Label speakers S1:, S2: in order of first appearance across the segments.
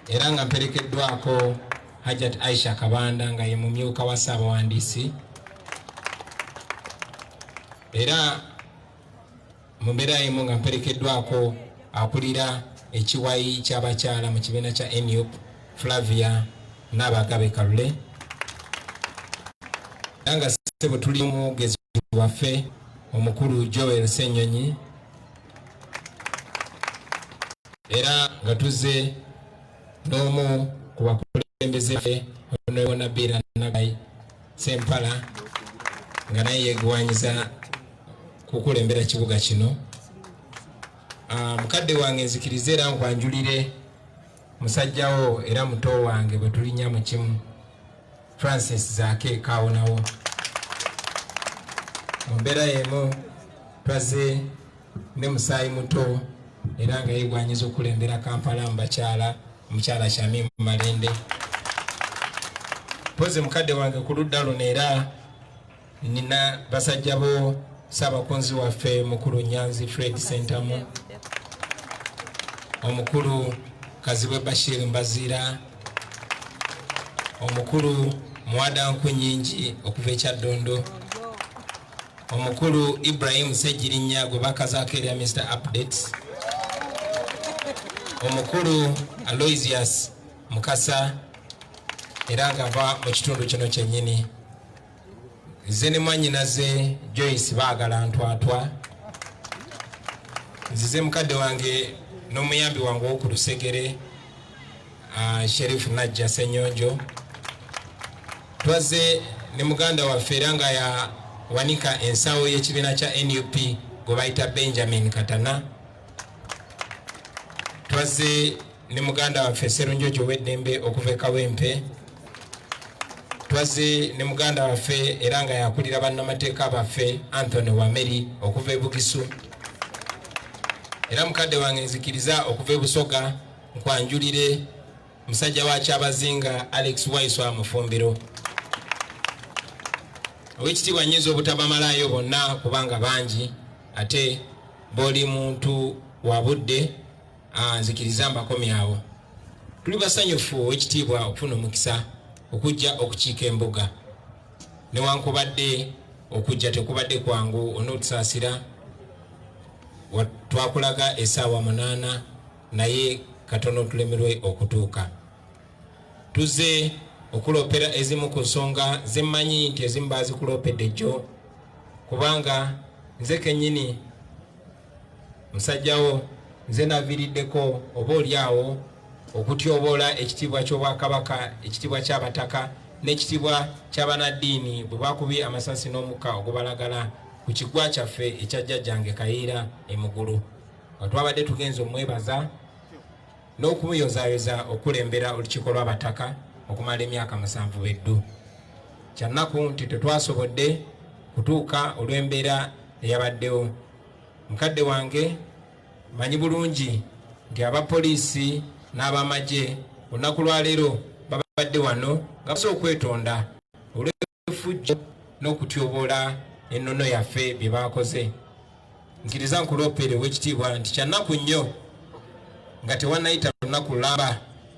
S1: era nga mperekeddwako Hajat Aisha Kabanda nga ye mumyuka wa Ssaabawandiisi era mu mbeera emu nga mperekeddwako akulira ekiwayi ky'abakyala mu kibiina kya nup Flavia Naabagabe Kalule era nga ssebo tuli omwogezi waffe omukulu Joel Ssenyonyi era nga tuzze n'omu ku bakulembeze fe honorable nabiira nagai sempala nga naye yegwanyiza kukulembera kibuga kino ah, mukadde wange nzikirize era nkwanjulire musajjawo era muto wange bwe tulinya mu kimu francis zaake kaawonawo mu mbeera y'emu twaze ne musaayi muto era nga yegwanyiza okulembera kampala mu bakyala omukyala shami mu malende mpozi mukadde wange ku ludda luno era Nina basajja bo Ssaabakunzi waffe mukulu Nyanzi Fred Sentamu, omukulu Kazibwe Bashir Mbaziira, omukulu Muwada Nkunyingi okuva ekyaddondo omukulu Ibrahim Ssegirinya gwe bakazaako erya Mr Updates, omukulu Aloysius Mukasa era ngava mu kitundu kino kyennyini. nze ne mwanyinaze joyce baagala ntwatwa nzize mukadde wange n'omuyambi wange owoku lusegere ah, sherifu najja senyonjo twazze ne muganda waffe era nga yawanika ensawo y'ekibiina kya nup gwe bayita benjamin katana twazze ne muganda waffe Serunjoji ow'eddembe okuva e Kawempe twaze ne muganda waffe era nga yakulira bannamateeka baffe Anthony Wameri okuva e Bugisu era mukadde wange nzikiriza okuva e Busoga nkwanjulire musajja wa Kyabazinga Alex Waiswa Mufumbiro owekitiibwa nyinza obutabamalaayo bonna kubanga bangi ate boli muntu wa budde Ah, nzikiriza mbakomyawo tuli basanyufu owekitiibwa okufuna omukisa okujja okukiika embuga newankubadde okujja tekubadde kwangu onotusaasira twakulaga esaawa munaana naye katono tulemerwe okutuuka tuze okuloopera ezimu ku nsonga zemmanyi nti ezimu baazikuloopedde jjo kubanga nze kenyini musajjawo nze naviiriddeko oba oli awo okutyoboola ekitiibwa ky'obwakabaka ekitiibwa ky'abataka n'ekitiibwa ky'abanaddiini bwe bakubye amasasi n'omukka ogubalagala ku kigwa kyaffe ekya jjajjange kayiira emugulu nga twabadde tugenza omwebaza n'okumuyozayoza okulembera olukiiko lw'abataka okumala emyaka musanvu beddu kyannaku nti tetwasobodde kutuuka olw'embeera eyabaddewo mukadde wange manyi bulungi nti abapoliisi n'abamagye olunaku lwaleero babadde wano nga basa okwetonda olwefujjo n'okutyoboola ennono yaffe bye baakoze nkiriza nkuloopeere owekitiibwa nti kyannaku nnyo nga tewannayita lunaku lulamba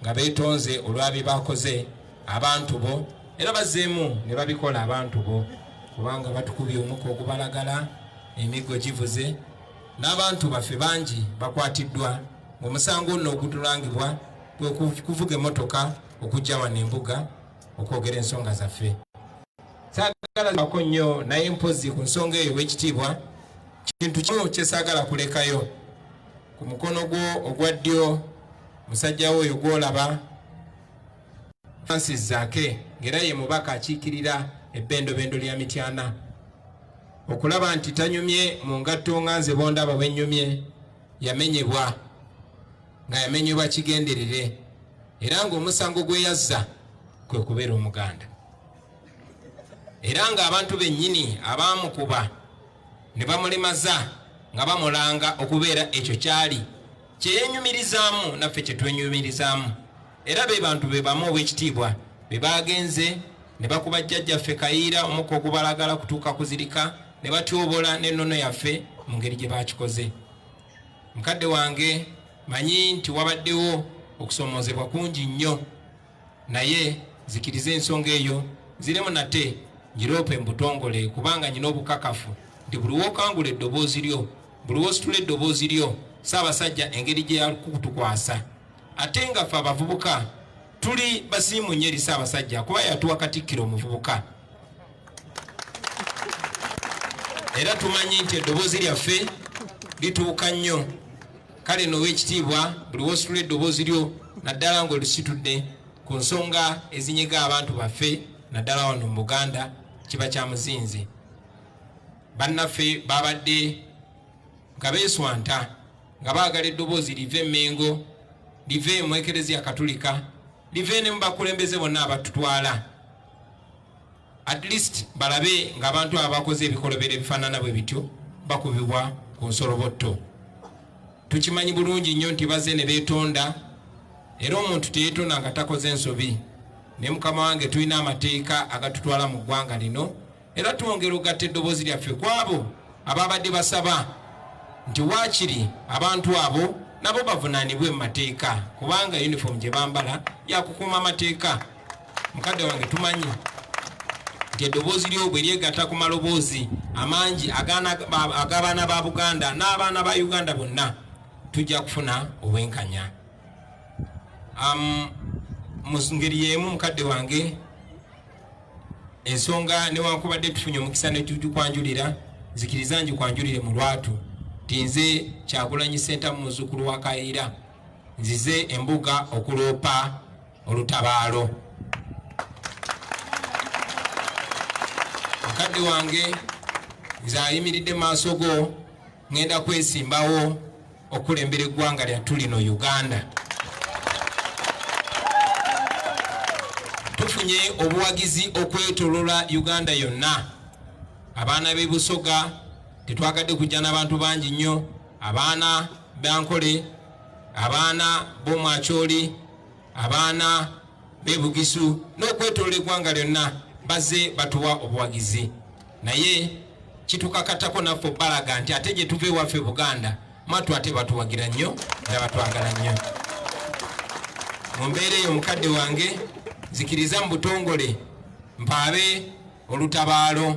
S1: nga beetonze olwa bye baakoze abantu bo era bazzeemu ne babikola abantu bo kubanga batukubye omuka ogubalagala emiggo givuze n'abantu baffe bangi bakwatiddwa ng'omusango nno ogutulangibwa kwe kuvuga emmotoka okujja wano embuga okwogera ensonga zaffe sagalako nnyo naye mpozi ku nsonga eyo w'ekitiibwa kintu kimu kye saagala kulekayo ku mukono gwo ogwa ddyo musajja we oyo gwolaba Francis Zake ng'era ye mubaka akiikirira ebbendobendo lya Mityana okulaba nti tanyumye mu ngatto nga nze bondaba bwennyumye yamenyebwa nga yamenyebwa kigenderere era ng'omusango gwe yazza kwe kubeera omuganda era ng'abantu bennyini abaamukuba ne bamulimaza nga bamulanga okubeera ekyo kyali kyeyenyumirizaamu naffe kyetwenyumirizaamu era be bantu be bamu ow'ekitiibwa be baagenze ne bakuba jjajjaffe kayiira omukka ogubalagala kutuuka kuzirika ne batyobola n'ennono yaffe mu ngeri gye baakikoze mukadde wange manyi nti wabaddewo okusoomoozebwa kungi nnyo naye nzikiriza ensonga eyo nziremu nate ngiroope mu butongole kubanga nyina obukakafu nti buli wokangula eddoboozi lyo buli wositula eddoboozi lyo saabasajja engeri gye yakutukwasa ate nga fe abavubuka tuli basiimu nyo eri saabasajja kuba yatuwa katikkiro omuvubuka era tumanyi nti eddoboozi lyaffe lituuka nnyo kale noowa ekitiibwa buli wositula eddoboozi lyo naddala ng'olisitudde ku nsonga ezinyiga abantu baffe naddala wano mu buganda kiba kya muzinzi bannaffe babadde nga beeswanta nga baagala eddoboozi live emengo live mu ekereziya katulika live ne mu bakulembeze bonna abatutwala At least balabe nga abantu abakoze ebikolobero ebifanana bwe bityo bakubibwa ku nsolobotto. Tukimanyi bulungi nnyo nti baze ne betonda era omuntu teyetonda nga takoze nsobi. Ne mukama wange tulina amateeka agatutwala mu ggwanga lino era twongera okugatta eddoboozi lyaffe ku abo ababadde basaba nti waakiri abantu abo nabo bavunaanibwe mu mateeka kubanga yunifoomu gye bambala yakukuuma amateeka mukadde wange tumanyi nti eddoboozi lyo bwe lyegatta ku maloboozi amangi ag'abaana ba buganda n'abaana ba uganda bonna tujja kufuna obwenkanya mu ngeri y'emu mukadde wange ensonga newankubadde tufunye omukisa netujukwanjulira nzikiriza njikwanjulire mu lwatu ti nze kyagulanyi sentamu muzukulu wa kayiira nzize embuga okuloopa olutabaalo mukadde wange nze ayimiridde maaso go ŋenda kwesimbawo okulembera eggwanga lyattu lino uganda tufunye obuwagizi okwetolola uganda yonna abaana b'ebusoga tetwagadde kujja n'abantu bangi nnyo abaana bankole abaana b'omwakyoli abaana b'e Bugisu n'okwetolola eggwanga lyonna baze batuwa obuwagizi naye kitukakatako naffe obbalaga nti ate gye tuva ewaffe Buganda mwattu ate batuwagira nnyo era batwagala nnyo mu mbeera eyo mukadde wange nzikiriza mu butongole mpaabe olutabaalo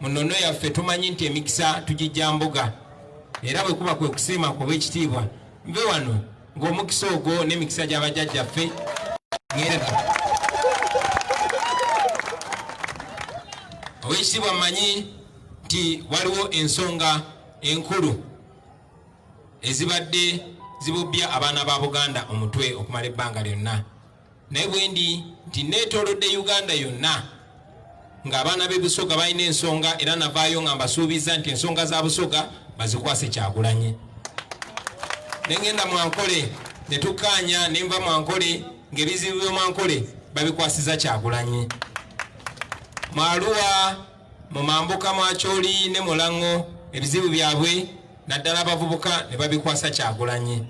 S1: mu nnono yaffe tumanyi nti emikisa tugijja mbuga era bwe kuba kwe kusiima kuba ekitiibwa nve wano ng'omukisa ogwo n'emikisa gya bajjajjaffe owekitiibwa mmanyi nti waliwo ensonga enkulu ezibadde zibubbya abaana ba buganda omutwe okumala ebbanga lyonna naye bwendi nti neetolodde uganda yonna ng'abaana b'e busoga balina ensonga era navaayo nga mbasuubizza nti ensonga za busoga bazikwase kyagulanye nengenda mwankole netukkaanya nenva mwankole ng'ebizibu by'omwankole babikwasiza kyagulanye mwaluwa mu mambuka mwakyoli ne mulaŋŋo ebizibu byabwe naddala abavubuka ne babikwasa kyagulanye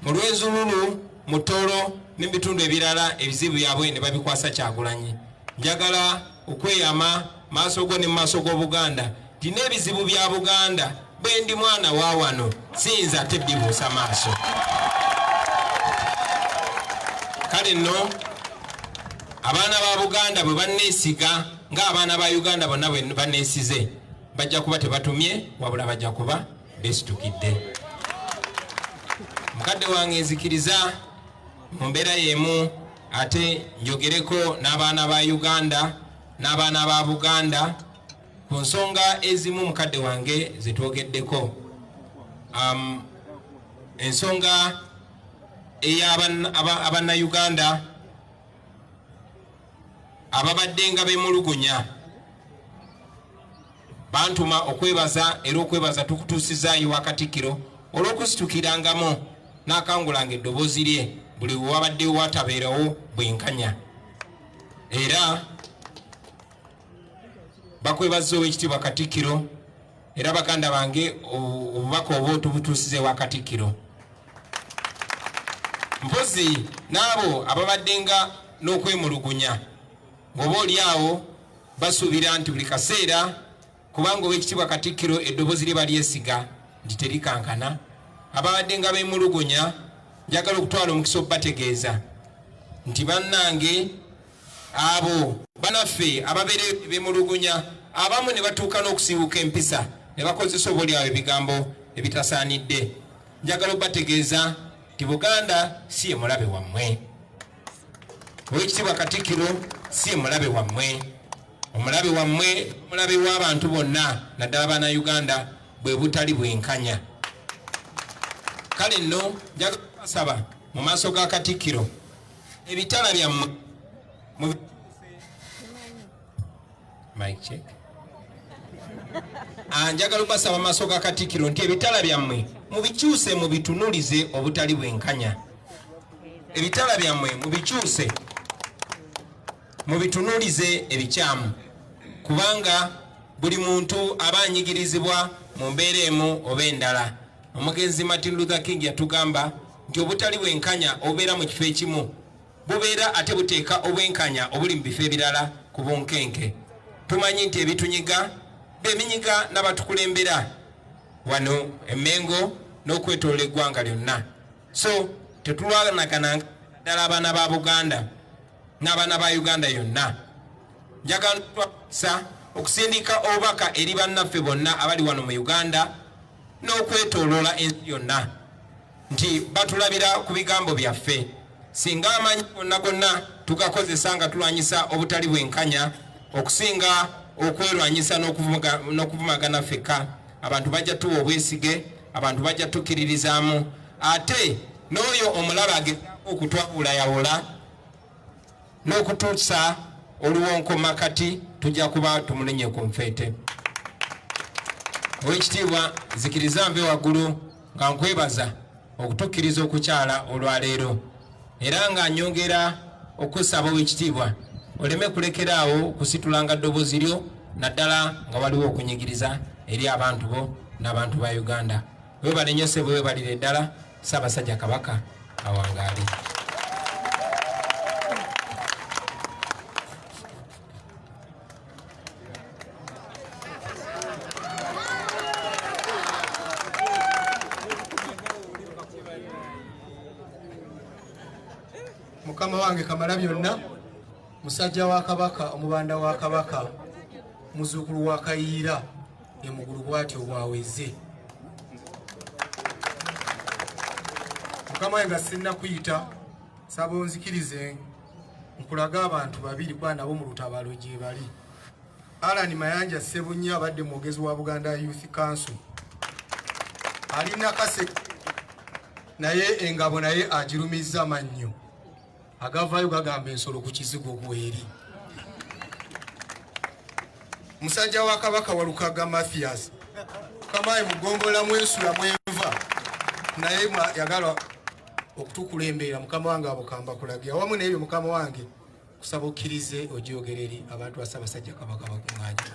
S1: mu lwezululu mu Tooro ne mu bitundu ebirala ebizibu byabwe ne babikwasa Kyagulanyi. Njagala okweyama maaso go ne mu maaso g'Obuganda nti n'ebizibu bya Buganda bwe ndi mwana wa wano siyinza ate bibuusa maaso. Kale nno abaana ba Buganda bwe banneesiga ng'abaana ba Uganda bonna bwe banneesize bajja kuba tebatumye wabula bajja kuba besitukidde mukadde wange nzikiriza mu mbeera y'emu ate njogereko n'abaana ba uganda n'abaana ba buganda ku nsonga ezimu mukadde wange zetwogeddeko um, ensonga ey'abannayuganda ababadde nga bemulugunya bantuma okwebaza era okwebaza tukutuusizaayo wa katikkiro olw'okusitukirangamu n'akangulanga eddoboozi lye buli wewabaddewo watabeerawo bwenkanya era bakwebaza ow'ekitiibwa katikkiro Era baganda bange obubaka obwo tubutuusize wa Katikkiro. Mpozi n'abo ababaddenga n'okwemulugunya ng'oba oli awo basuubira nti buli kaseera kubanga ow'ekitiibwa Katikkiro eddoboozi lye balyesiga nti terikankana ababaddenga beemulugunya njagala okutwala omukisa okubategeeza nti bannange Abo banaffe ababeera bemulugunya abamu ne batuuka n'okusiiwuka empisa ne bakozesa oboolyawo ebigambo ebitasaanidde. Njagala obategeeza nti Buganda si ye mulabe wammwe. Oweekitiibwa Katikkiro si ye mulabe wammwe. Omulabe wammwe omulabe w'abantu bonna naddala baana Uganda bwe butali bwenkanya. Kale nno njagala kubasaba mu maaso ga Katikkiro ebitala byammwe anjagala ah, okubasaba maaso ga katikiro nti ebitala byammwe mubikyuse mubitunulize obutali bwenkanya ebitala byammwe mubikyuse mubitunulize ebikyamu kubanga buli muntu aba anyigirizibwa mu mbeera emu oba endala omugenzi martin luther king yatugamba nti obutali bwenkanya obubeera mu kifo ekimu bubeera ate buteeka obwenkanya obuli mu bifo ebirala ku bunkenke tumanyi nti ebitunyiga beminyiga n'abatukulembera wano emengo n'okwetolola eggwanga lyonna so tetulwanagana ddala abaana ba buganda n'abaana ba uganda yonna njagala okusindiika obubaka eri bannaffe bonna abali wano mu uganda n'okwetooloola ensi yonna nti batulabira ku bigambo byaffe singa amanyi gonna gonna tugakozesa nga tulwanyisa obutali bwenkanya okusinga okwerwanyisa n'okuvumagana fekka abantu bajja tuwa obwesige abantu bajja tukkiririzaamu ate n'oyo omulaba ageza okutwawulayawula n'okutuusa oluwonkoma kati tujja kuba tumulinye ku nfeete owekitiibwa zikiriza nve waggulu nga nkwebaza okutukkiriza okukyala olwaleero era nga nyongera okusaba owekitiibwa oleme kulekera awo kusitulanga ddobozi lyo naddala nga waliwo okunyigiriza eri abantu bo n'abantu ba uganda webalenyo sebo webalire ddala Ssaabasajja Kabaka awangaale.
S2: Mukama wange kamala byonna musajja wa kabaka omubanda wa kabaka muzuukulu wa kayiira ne mugulu bwatyo bwaweze mukama nga sinna kuyita saba onzikirize nkulaga abantu babiri kuba nabo mu lutabalo gyebali alan mayanja sebunya abadde mwogezi wa buganda youth council ali nakase naye engabo naye agirumizza mannyo agavaayo gagamba ensolo ku kizigo ogweri musajja wa kabaka walukaga mathias kamaye mugombola mwensula mwenva naye yagala okutukulembera mukama wange abukamba kulage awamu nebyo mukama wange kusaba okkirize ojogereri abantu basabasajja kabaka bakuŋanya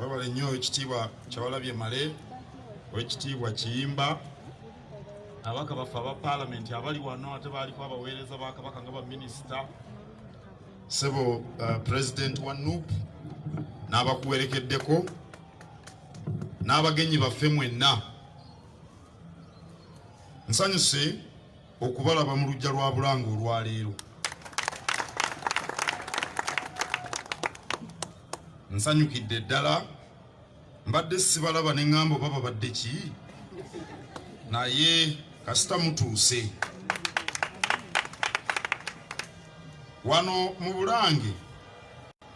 S3: webale nnyo ekitiibwa kyawalabye male owekitiibwa kiyimba abaka baffe aba palamenti abali wano ate baaliko abaweereza ba kabaka nga baminisita sebo uh, pulezidenti wa nup n'abakuwerekeddeko n'abagenyi baffe mwenna nsanyuse okubalaba mu lujja lwa bulanga olwaleero nsanyukidde ddala mbadde sibalaba ne ŋŋamba oba babadde ki naye kasita mutuuse wano mu bulange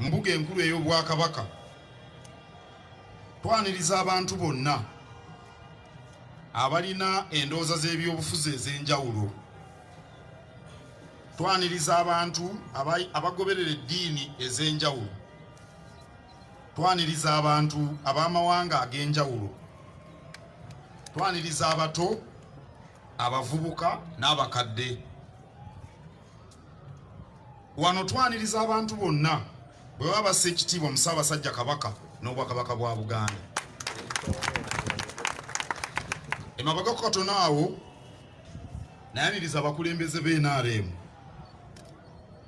S3: mbuga enkulu ey'obwakabaka twaniriza abantu bonna abalina endowooza z'ebyobufuzi ez'enjawulo twaniriza abantu abagoberera eddiini ez'enjawulo twaniriza abantu ab'amawanga ag'enjawulo twaniriza abato abavubuka n'abakadde Wano twaniriza abantu bonna bwe baba bassa ekitiibwa mu Ssaabasajja Kabaka n'Obwakabaka bwa Buganda. Emabega ku katono awo nayaniriza abakulembeze b'e NRM.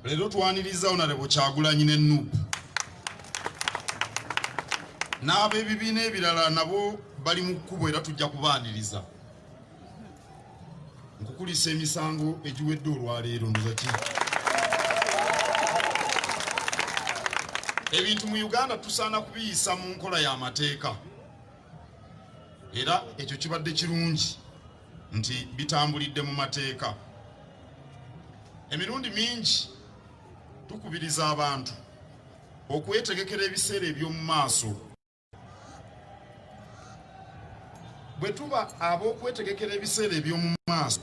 S3: Leero twaniriza Onalebo Kyagulanyi ne NUP n'ab'ebibiina ebirala nabo bali mu kkubo era tujja kubaaniriza. nkukulisa emisango egiwedde olwaleero ndozaki ebintu mu uganda tusaana kubiyisa mu nkola y'amateeka era ekyo kibadde kirungi nti bitambulidde mu mateeka emirundi mingi tukubiriza abantu okwetegekera ebiseera eby'omu maaso bwe tuba ab'okwetegekera ebiseera eby'omu maaso.